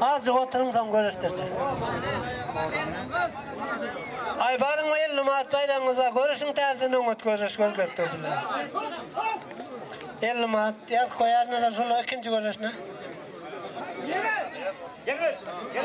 Azjyk oturyň soň görüşdirjek. Aýbaryň we elli manat baýragyňyzda görüşiň täzeden oňat göreş görkezdirdiler. Elli manat ýaz koýarynda şolar ikinji görüşine. Gel gel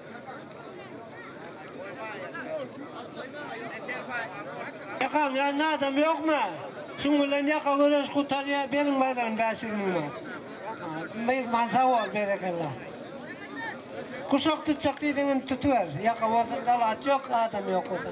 Ýakaň ýanynda adam ýokmy? Şuň bilen ýaka göreş gutarýar, beriň baýdan bäş ýüz müň man. Myhman sag bol, berekella. Guşak tutjak diýseň indi tutuber. Ýaka bolsa dalat ýok, adam ýok bolsa.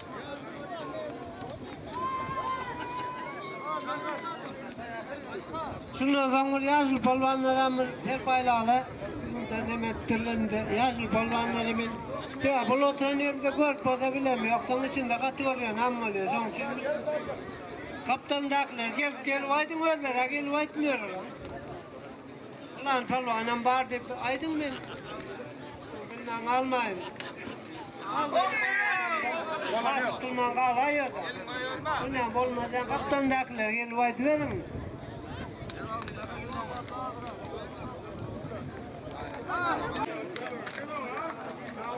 Şundan soň bir ýaşuly polwanlar hem bir her baýlagla mundan hem etdirilende ýaşuly polwanlar hem ýa bul oturan ýerimde görüp bolsa bilem ýok soň içinde gaty görýän hem bolýar şoň üçin gapdalyndakylar gelip gelip aýdyň özleri-ä gelip aýtmýarlar. Pylan pälwanam bar diýip aýdyň men bilmän galmaýyn. Bolman galaýýar. Bilmän bolmazdan gapdaldakylar gelip aýdyberiň.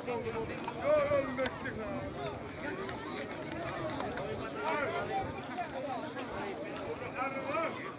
Yo yo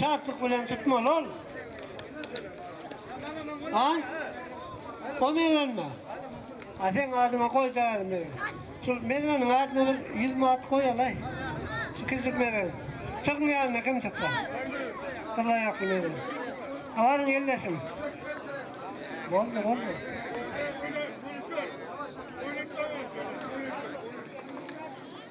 Şatlyk bilen tutmaly ol. A? O mergenmi? A seň adyňa goýjaýaly mergen. Şul mergeniň adyna bir ýüz manat goýalaý. Şu kiçijik mergen. Çygyň ýanyna kim çyksa. Gyz aýakly mergen. Abaryň elleşiň. Boldy, boldy.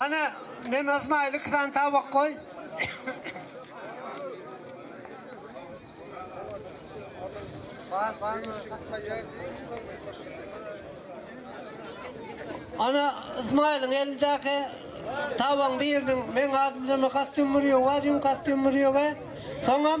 Ana, men Ysmaýyl iki sany tabak goý. Ana, Ysmaýylyň elindäki tabagyň biriniň meň adym Zöme Kastýumyrýowa, Züm Kastýumyrýowa, soňam.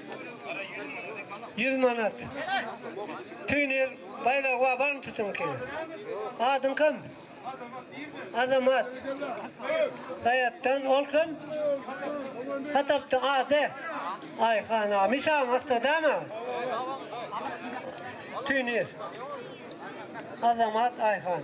Ýüz manat. Tüýnür baýragy bar, barmy tütüňki? Adyň kim? Azamat. Saýatdan ol kim? Hatapda ady. Aýhan aga. Mişaň astadama? Tüýnür. Azamat Aýhan.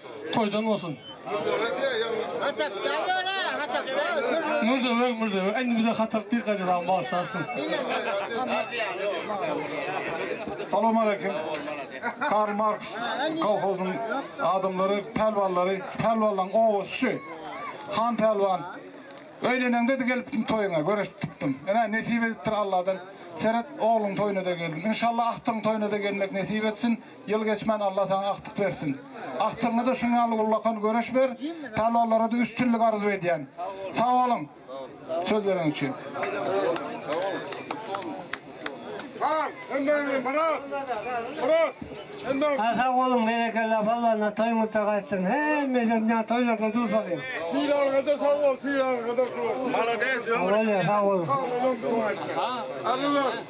Toýdan bolsun. Mürzebeg Mürzebeg indi bize hatar dil gaýdadan başlarsyn. Salam aleyküm. Karl Marx kolhozyň adamlary, pälwanlary, pälwanlaň owazy şu. Han pälwan. Öýleneňde-de gelipdim toýuňa, görüşipdim. Ine, nesip edipdir Alladan. Seret, ogluň toýuna-da geldim. Inşallah agtygyň toýuna-da gelmek nesip etsin. Ýyl geçmän Alla saňa agtyk bersin. Agtygyňada şuň ýaly ullakan göreş ber, palwanlarada üstünlik arzuw edýän. Sag boluň söz beren üçin. Sag bolun Myrat. Myrat. Aý sag boluň berekella palwanlar toýuňyzda gaýtsyn hemmeden ýa toýlarda duş alyň. Sylagyňyzda sag bol sylagyňyzda. Malades ömrüň bolsun. Sag boluň. Sag boluň. Agzybir.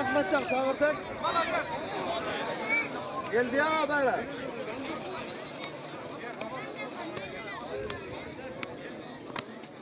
Ahmetcan çağırtın. Geldi ya habara.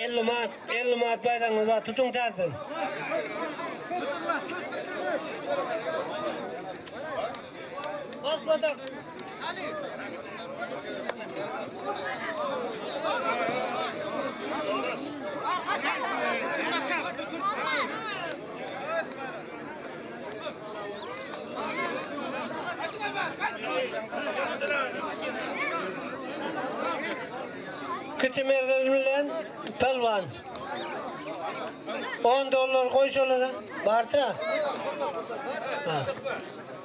Elli mat, elli mat bayramı var. Tutun tarzın. Bak batak. Kiti mergen bilen pelwan. 10 dollar koy şolara. Barta. Ha.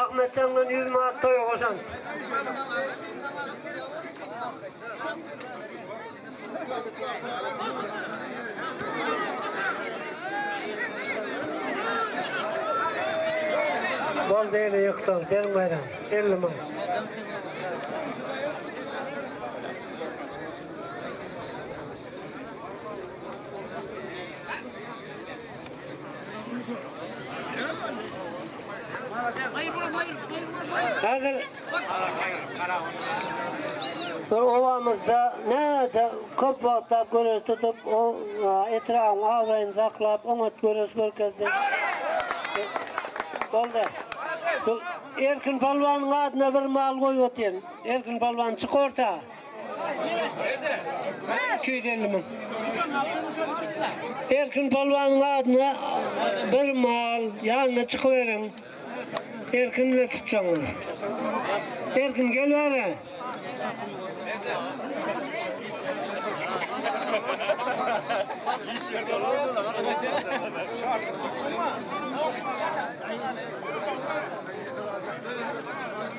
Ahmetjandan ýüz manat toýa goşan. Bol beni ýykdyň, bermedim, elli müň. Häzir bir obamyzda näçe köp wagtlap göreş tutup, o etrabyň abraýyny saklap, oňat göreş görkezdi. Boldy. Erkin palwanyň adyna bir mal goýup otyryn. Erkin Palwan çyk orta. Iki ýüz elli müň. Erkin Palwanyň adyna bir mal ýanyna çykyberiň. Erkin bilen tutjaňyz. Erkin gel bäre.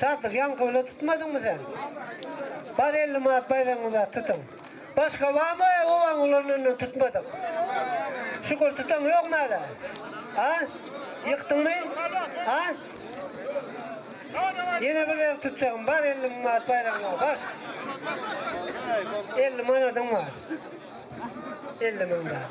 Sadyk ýaňky bile tutmadyňmy sen? Bar elli manat baýragyňyz bar tutuň. Başga barmy obaň ulanandan tutmadyk? Şükür tutan ýokmy hala? A? Ýykdyňmy? A? Ýene bir gezek tutjagym bar elli manat baýragyňyz bar. Elli manadyň bar. Elli manat.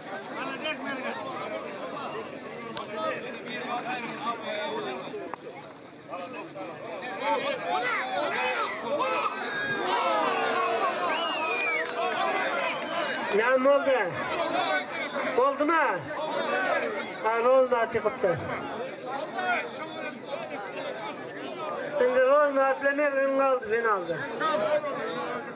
Näme boldy? Boldumy? Hany ol zat ýykypdy. Şimdi ol zatla mergen galdy finalda.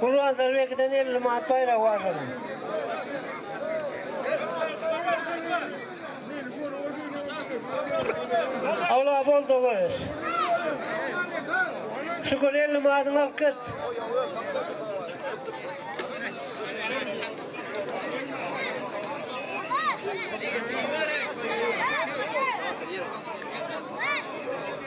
Gurbanzar Bekiden elli manat baýrak barlanan. Awla bol dogareş. Şükür elli manatyňy alyp git.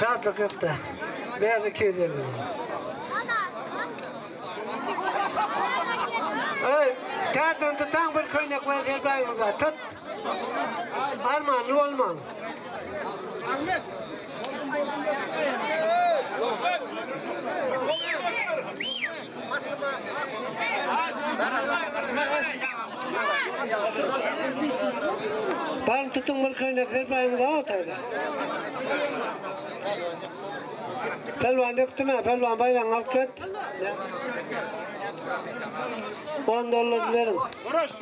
Şatlyk ýokda. Bäri 250 manat. Öý, täzeden tutaň bir köýnek we zelbäňizi tut. Armanly bolmaň. Ahmet. Ahmet. Baryň tutuň bir köýnek serpaýyňyzy a otagda. Pälwan dökdüm a pälwan baýragyňy alyp get. On dollar beriň.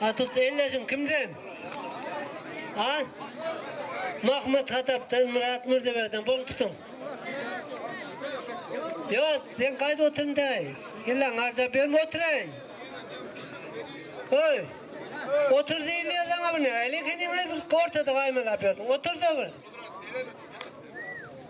Hatut elleşiň kimden? A. Mahmut Hatapdan, Myrat Mürdeberden bol tutuň. Ýok, sen gaýt oturyn däý. Illa ňarja berme oturay. Öý. Otur diýilýär saňa bu ne? Elin heniň bir ortada gaýmalap ýörsiň. Otur da bir.